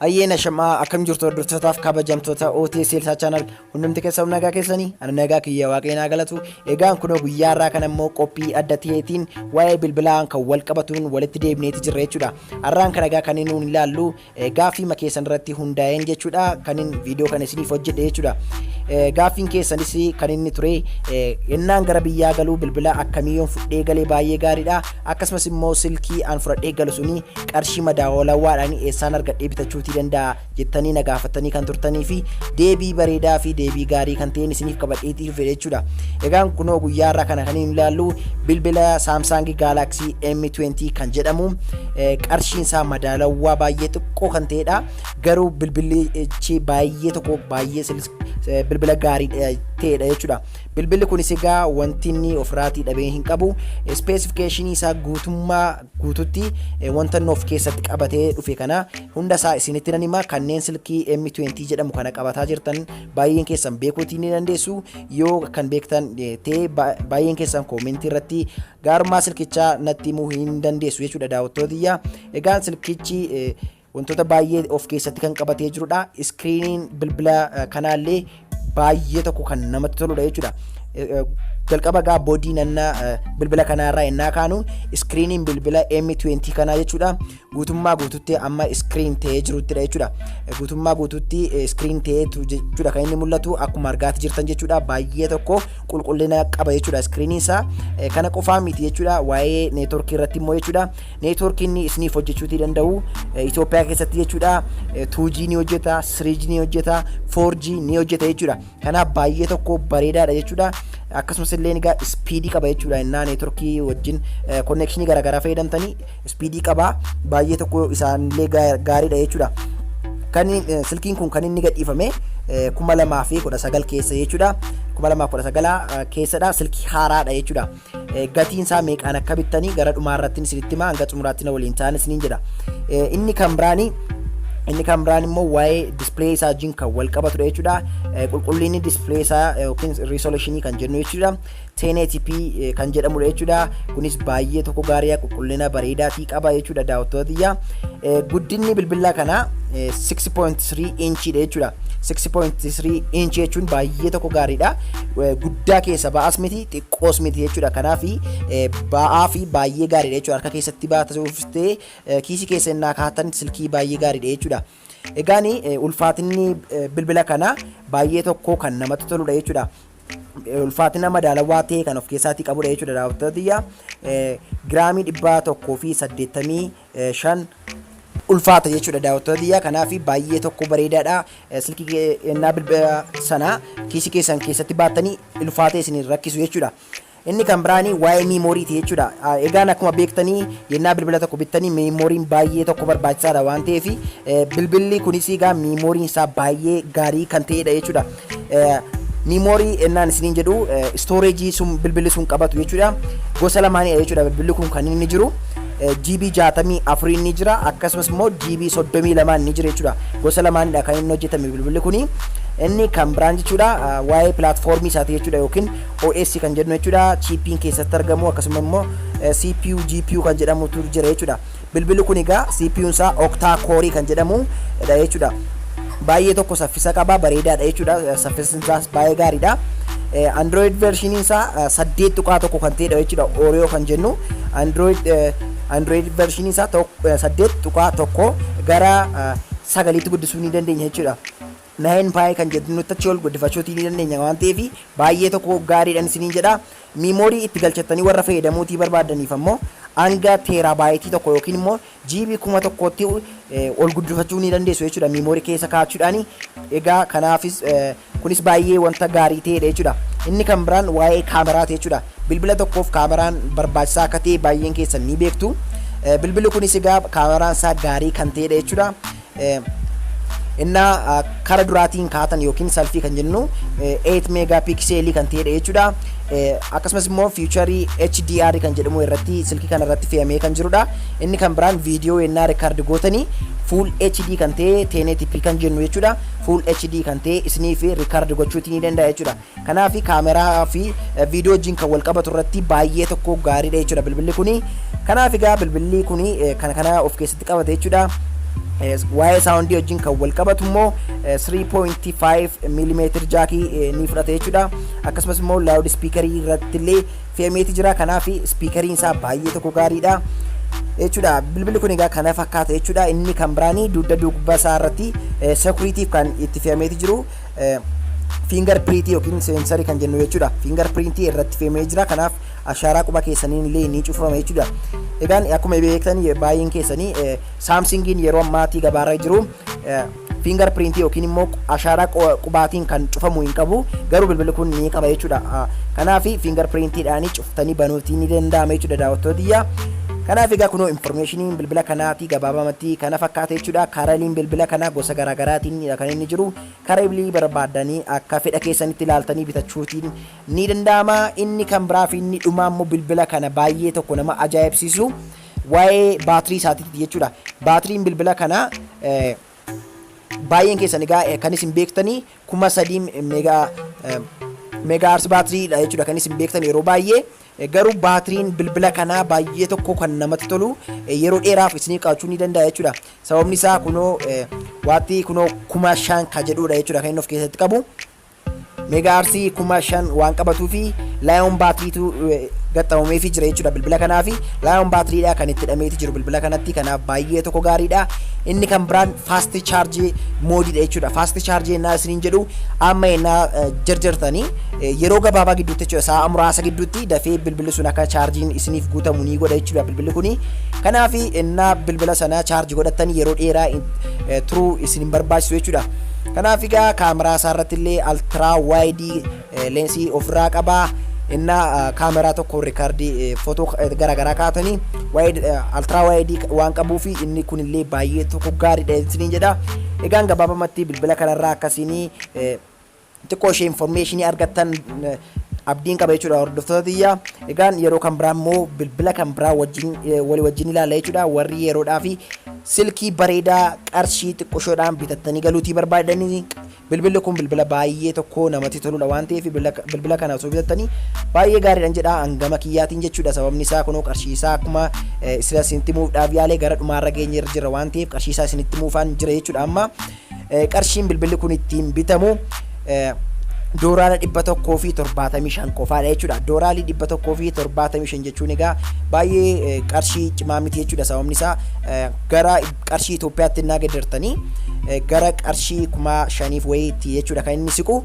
Hayyeen ashamaa akkam jirtu hordoftotaaf kabajamtoota OTS Seelsaa Chaanal hundumti keessa nagaa keessanii ani nagaa kiyya waaqayyoo naa galatu egaan kunoo guyyaa irraa kan ammoo qophii adda ta'eetiin waa'ee bilbilaan kan wal qabatuun walitti deebineeti jirra jechuudha har'aan kan egaa kanneen nuun ilaallu Gaaffiima keessan irratti hundaa'een jechuudha kanin viidiyoo kana isiniif hojjedhe jechuudha. Gaaffiin keessanis kan inni ture ennaan gara biyyaa galuu bilbila akkamii yoon fudhee galee baay'ee gaariidha. Akkasumas immoo silkii an fudhadhee galu suni qarshii madaawalawaadhaan eessaan argadhee bitachuutii danda'a jettanii na gaafattanii kan turtanii fi deebii bareedaa fi deebii gaarii kan ta'een isiniif qabadheetii dhufe jechuudha. Egaan kunoo guyyaa irraa kana kan hin ilaallu bilbila Samsung Galaxy M20 kan jedhamu qarshiin isaa madaalawaa baay'ee xiqqoo kan ta'edha. Garuu bilbilichi baay'ee tokko baay'ee bilbila gaarii ta'edha jechuudha. Bilbilli kunis egaa wanti inni ofirraatii dhabee hin qabu. Ispeesifikeeshinii isaa guutummaa guututti wanta inni of keessatti qabatee dhufe kana hunda isaa isinitti nan hima. Kanneen silkii M20 jedhamu kana qabataa jirtan baay'een keessan beekuutii ni dandeessu. Yoo kan beektan ta'e baay'een keessan koomentii irratti Gaarummaa silkichaa natti himuu hin dandeessu jechuudha daawwattoota tiyya. Egaan silkichi wantoota baay'ee of keessatti kan qabatee jirudha. Iskiriiniin bilbila kanaallee baay'ee tokko kan namatti toludha jechuudha. Jalqaba egaa boodii nanna bilbila kanaarraa ennaa kaanu iskiriiniin bilbila M20 kanaa jechuudha. guutummaa guututti amma screen ta'ee jiruttidha jechuudha. Guutummaa guututti screen ta'ee jechuudha kan inni mul'atu akkuma argaati jirtan jechuudha baay'ee tokko qulqullina qaba jechuudha screen isaa kana qofaa miti jechuudha waa'ee network irratti immoo jechuudha network inni isiniif hojjechuutii danda'u Itoophiyaa keessatti jechuudha 2G ni hojjeta 3G ni hojjeta 4G ni hojjeta jechuudha Kanaaf baay'ee tokko bareedaadha jechuudha. Akkasumas illee egaa ispiidii qaba jechuudha. Innaa neetworkii wajjin konnekshinii garaagaraa fayyadamtanii ispiidii qaba. Baay'ee tokko isaanillee gaariidha jechuudha. Kan silkiin kun kan inni gadhiifame kuma lamaa fi kudha sagal keessa jechuudha. Kuma lamaa fi kudha sagalaa keessadha. Silkii haaraadha jechuudha. gatiin isaa meeqaan akka bittanii gara dhumaa irratti isinitti himaa hanga xumuraatti na waliin ta'aa isiniin jedha. Inni kan biraanii inni kan biraan immoo waa'ee displee isaa wajjin kan wal qabatudha jechuudha. Qulqullinni displee isaa yookiin resolution kan jennu jechuudha. 1080p kan jedhamudha jechuudha. Kunis baay'ee tokko gaariidha qulqullina bareedaa fi qaba jechuudha daawwattoota biyya. Guddinni bilbilaa kanaa 6.3 inchidha jechuudha. 6.3 inch jechuun baay'ee tokko gaariidha. Guddaa keessa ba'as miti xiqqoos miti jechuudha. Kanaaf ba'aa fi baay'ee gaariidha jechuudha. Harka keessatti baatee uffistee kiisii keessa innaa kaa'atan silkii baay'ee gaariidha jechuudha. Egaan ulfaatinni bilbila kanaa baay'ee tokko kan namatti toludha jechuudha. Ulfaatina madaalawaa ta'e kan of keessaatii qabudha jechuudha daawwattoota tiyya. Giraamii dhibba tokkoo fi saddeettamii 5 ulfaata jechuudha daawwattoota tiyyaa kanaaf baay'ee tokko bareedaadha silkii kennaa bilbila sanaa kiisii keessan keessatti baattanii ulfaatee isin rakkisu jechuudha. Inni kan biraani waa'ee miimooriiti jechuudha. Egaan akkuma beektanii yennaa bilbila tokko bittanii miimooriin baay'ee tokko barbaachisaadha waan ta'eef bilbilli kunis egaa miimooriin isaa baay'ee gaarii kan ta'edha jechuudha. Miimoorii ennaan isiniin jedhu istooreejii sun bilbilli sun qabatu jechuudha. Gosa lamaanidha jechuudha bilbilli kun kan inni jiru. GB 64 ni jira akkasumas immoo GB 32 ni jira jechuudha. Gosa lamaanidha kan inni hojjetame bilbilli kuni. Inni kan biraan jechuudha waa'ee pilaatfoormii isaati jechuudha yookiin OS kan jedhu jechuudha. Chiippiin keessatti argamu akkasuma immoo CPU, GPU kan jedhamutu jira jechuudha. Bilbilli kun egaa CPUn isaa octa core kan jedhamu dha jechuudha. Baay'ee tokko saffisa qaba bareedaa dha jechuudha. Saffisni isaas baay'ee gaarii dha. Android version isaa saddeet tuqaa tokko kan ta'edha jechuudha. Oreo kan jennu Android Android version isaa saddeet tuqaa tokko gara sagaliitti guddisuu ni dandeenya jechuudha. 9 pi kan jedhu nutti achi ol guddifachuutii ni dandeenya waan ta'eef baay'ee tokko gaariidhan isiniin jedha. Miimoorii itti galchattanii warra fayyadamuutii barbaaddaniif ammoo hanga teeraabaayitii tokko yookiin immoo jiibii kuma tokkootti ol guddifachuu ni dandeessu jechuudha miimoorii keessa kaa'achuudhaan. Egaa kanaafis kunis baay'ee wanta gaarii ta'edha jechuudha. Inni kan biraan waa'ee kaameraati jechuudha. Bilbila tokkoof kaameraan barbaachisaa akka ta'e baay'een keessan ni beektu. Bilbilli kunis egaa kaameraan isaa gaarii kan ta'edha jechuudha. Inna kara duraatiin kaatan yookiin salfii kan jennu 8 meegaa piikseelii kan ta'edha jechuudha. Akkasumas immoo fiicharii HDR kan jedhamu irratti silkii kana irratti fe'amee kan jirudha. Inni kan biraan viidiyoo yennaa rikaardi gootanii full HD kan ta'e 1080p kan jennu jechuudha. Full HD kan ta'e isiniif rikaardi gochuuti ni danda'a jechuudha. Kanaaf camera fi video wajjin kan wal qabatu irratti baay'ee tokko gaariidha jechuudha bilbilli kuni. Kanaaf egaa bilbilli kuni kana kana of keessatti qabate jechuudha. Waa'ee saawundii wajjin kan wal qabatu immoo 3.5 mm jaakii ni fudhata jechuudha. Akkasumas immoo laawud ispiikarii irratti illee fe'ameeti jira. Kanaaf ispiikariin isaa baay'ee tokko gaariidha. jechuudha bilbilli kun egaa kana fakkaata jechuudha inni kan biraanii dugda duuba isaa irratti sekuriitiif kan itti fe'ameeti jiru fiingar piriitii yookiin seensarii kan jennu jechuudha. Fiingar piriintii irratti feemee jira. Kanaaf ashaaraa quba keessaniin illee ni cufama jechuudha. Egaan akkuma beektan baay'een keessanii saamsingiin yeroo ammaatii gabaarra jiru fiingar piriintii yookiin immoo ashaaraa qubaatiin kan cufamu hin qabu. Garuu bilbilli kun ni qaba jechuudha. Kanaaf fiingar piriintiidhaan tani banuutii ni danda'ama jechuudha daawwattoota tiyya. Kanaaf egaa kunoo informationiin bilbila kanaatii gabaabamatti kana fakkaata jechuudha. Karaliin bilbila kanaa gosa garaagaraatiin kan inni jiru karabilii barbaadanii akka fedha keessanitti ilaaltanii bitachuutiin ni danda'ama. Inni kan biraa fi inni dhumaa immoo bilbila kana baay'ee tokko nama ajaa'ibsiisu waa'ee baatirii isaatiitti jechuudha. Baatiriin bilbila kanaa Baay'een keessan egaa eh, kan isin beektanii kuma sadii megaa eh, megaa aarsi baatiriidha jechuudha kan isin beektan yeroo baay'ee Eh, garuu baatiriin bilbila kanaa baay'ee tokko kan namatti tolu eh, yeroo dheeraaf isiniif qabachuu ni danda'a jechuudha sababni isaa kunoo eh, waattii kunoo kuma shan ka jedhuudha jechuudha kan inni of keessatti qabu. Megahertz 5000 waan qabatuu fi Lion battery tu gaxxamamee fi jira jechuudha bilbila kanaa fi Lion battery dha kan itti hidhameeti jiru bilbila kanatti kanaaf baay'ee tokko gaariidha. Inni kan biraan fast charge mode dha jechuudha. Fast charge yennaa isiniin jedhu amma yennaa eh, jarjartanii eh, yeroo gabaabaa gidduutti jechuudha sa'a muraasa gidduutti dafee bilbilli sun akka chaarjiin isiniif guutamu ni godha jechuudha bilbilli kuni. Kanaaf yennaa bilbila sana chaarji godhattan yeroo dheeraa eh, turuu isin hin barbaachisu jechuudha. Kanaaf egaa kaameraa isaa irratti illee altiraa waayidii leensii ofirraa qaba. Inna kaameraa tokko rikardii footoo garaagaraa kaatanii altiraa waayidii waan qabuu fi inni kun illee baay'ee tokko gaariidha isiniin jedha. Egaan gabaabamatti bilbila kanarraa akkasiinii xiqqoo ishee informeeshinii argattan abdiin qaba jechuudha hordoftoota tiyya. Egaan yeroo kan biraa immoo bilbila kan biraa wajjin walii wajjin ilaalla jechuudha warri yeroodhaa fi Silkii bareedaa qarshii xiqqoshoodhaan bitattanii galuutii barbaaddanii bilbilli kun bilbila baay'ee tokko namatti toludha waan ta'eef bilbila kana osoo bitattanii baay'ee gaariidhan jedha hangama kiyyaatiin jechuudha sababni isaa kunoo qarshii isaa akkuma isinitti muufdhaaf yaale gara dhumaarra geenye irra jirra waan ta'eef qarshii isaa isinitti muufaan jira jechuudha amma Qarshiin bilbilli kun ittiin bitamu dooraala dhibba tokkoo fi torbaatamii shan qofaadha jechuudha. Dooraalii dhibba tokkoo fi torbaatamii shan jechuun egaa baay'ee qarshii cimaa miti jechuudha. Sababni isaa gara qarshii Itoophiyaatti innaa geeddartanii gara qarshii kuma shaniif wayiitti jechuudha kan inni siqu.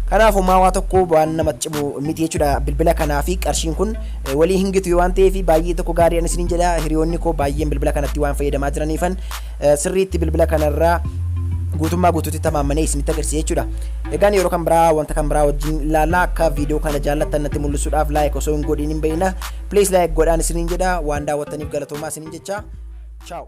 Kanaaf homaa waa tokko waan namatti cimu miti jechuudha bilbila kanaa fi qarshiin kun walii hin gitu waan ta'eef baay'ee tokko gaarii anis niin jedha hiriyoonni koo baay'een bilbila kanatti waan fayyadamaa jiraniifan sirriitti bilbila kanarraa guutummaa guutuutti tamaammanee isinitti agarsiisa jechuudha. Egaan yeroo kan biraa wanta kan biraa wajjin ilaalla akka viidiyoo kana jaallattan natti mul'isuudhaaf laayik osoo hin godhin hin beekna. Please laayik godhaan isiniin jedha waan daawwattaniif galatoomaa isiniin jecha. Ciao.